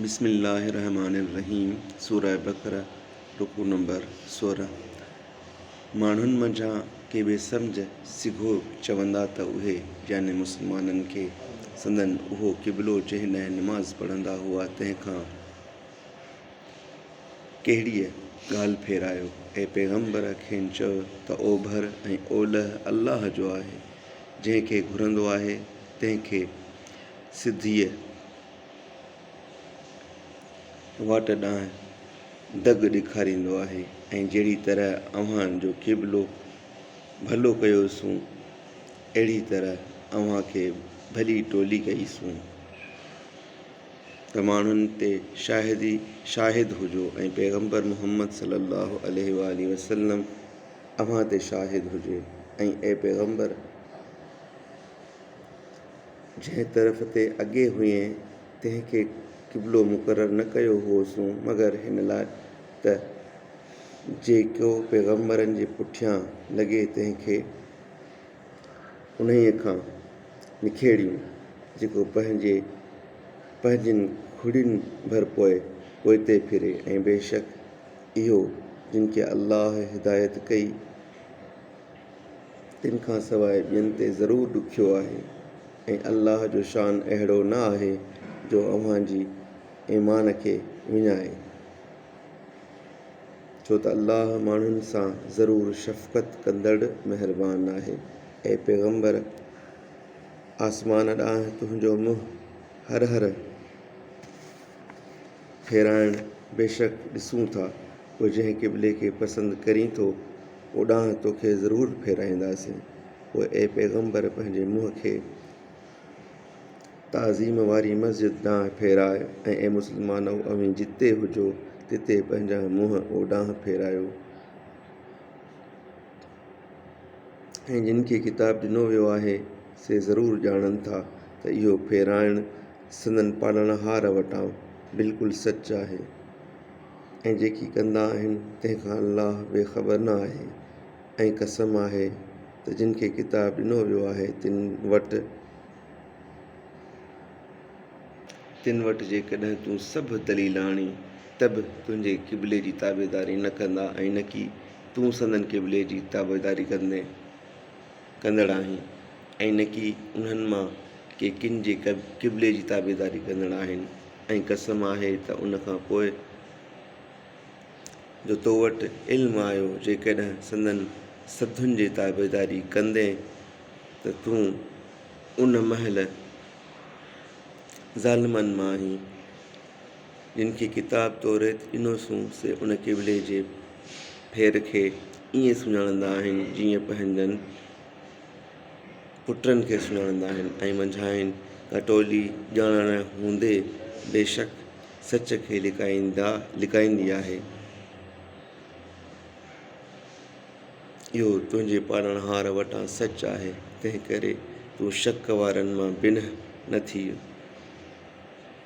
بسم الله الرحمٰن الرحيم سورة بقرة رڪوع نمبر سورهن، ماڻهن منجهان ڪي بي سمجهه سگهو چوندا ته اهي، يعني مسلمانن کي، سندن اهو قبلو جنهن ڏانهن نماز پڙهندا هئا تنهن کان ڪهڙيء ڳالهه ڦيرايو، اي پيغمبر کين چؤ ته اوڀر ۽ اولهه الله جو آهي، جنهن کي گهرندو آهي تنهن کي سڌيء. واٽ ڏانهن دڳ ڏيکاريندو آهي ۽ جهڙي طرح اوهان جو قبلو ڀلو ڪيوسون، اهڙي طرح اوهان کي ڀلي ٽولي ڪئي سون. ته ماڻهن تي شاهدي شاهد هجو ۽ پيغمبر محمد صلي الله عليه واٰله وسلم اوهان تي شاهد هجي ۽ اي پيغمبر! جنهن طرف تي اڳي هئين، تنهن کي قبلو مقرر نه ڪيو هوسون، مگر هن لاء ته جيڪو پيغمبرن جي پٺيان لڳي، تنهن کي انهيء کان نکيڙيون، جيڪو پنهنجي پنهنجين کڙين ڀر پوء پوئتي ڦري، ۽ بيشڪ اهو، جن کي الله هدايت ڪئي، تن کان سواء ٻين تي ضرور ڏکيو آهي ۽ الله جو شان اهڙو نه آهي جو اوهان جي ايمان کي وڃائي، ڇو ته الله ماڻهن سان ضرور شفقت ڪندڙ مهربان آهي. اي پيغمبر! آسمان ڏانهن تنهنجو منهن هر هر! ڦيرائڻ بيشڪ ڏسون ٿا پوء جنهن قبلي کي پسند ڪرين ٿو اوڏانهن توکي ضرور ڦيرائينداسين پوء اي پيغمبر پنهنجي منهن کي تعظيم واري مسجد ڏانهن ڦيراء ۽ اي مسلمانؤ اوهين جتي هجو تتي پنهنجا منهن اوڏانهن ڦيرايو ۽ جن کي ڪتاب ڏنو ويو آهي سي ضرور ڄاڻن ٿا ته اهو ڦيرائڻ سندن پالڻهار وٽان بلڪل سچ آهي ۽ جيڪي ڪندا آهن تنهن کان الله بي خبر نه آهي ۽ قسم آهي ته جن کي ڪتاب ڏنو ويو آهي تن وٽ، تن وٽ جيڪڏهن تون سڀ دليل آڻين ته به تنهنجي قبلي جي تابعداري نه ڪندا ۽ نڪي تون سندن قبلي جي تابعداري ڪندين. ڪندڙ آهن ۽ نه ڪي انهن مان ڪي ڪن جي قبلي جي تابعداري ڪندڙ آهن ۽ قسم آهي ته ان کان پوء جو تو وٽ علم آيو جيڪڏهن سندن سڌن جي تابعداري ڪندين ته تون ان مهل ظالمن مان آهين. جن کي ڪتاب توريت ڏنوسون، سي ان قبلي جي ڦير کي ائين سڃاڻندا آهن، جيئن پنهنجن پٽن کي سڃاڻندا آهن ۽ منجهانئن ڪا ٽولي ڄاڻائڻ هوندي بيشڪ سچ کي لڪائيندا لڪائيندي آهي. اهو تنهنجي پالڻهار وٽان سچ آهي، تنهنڪري تون شڪ وارن مان بنهه نه ٿيء.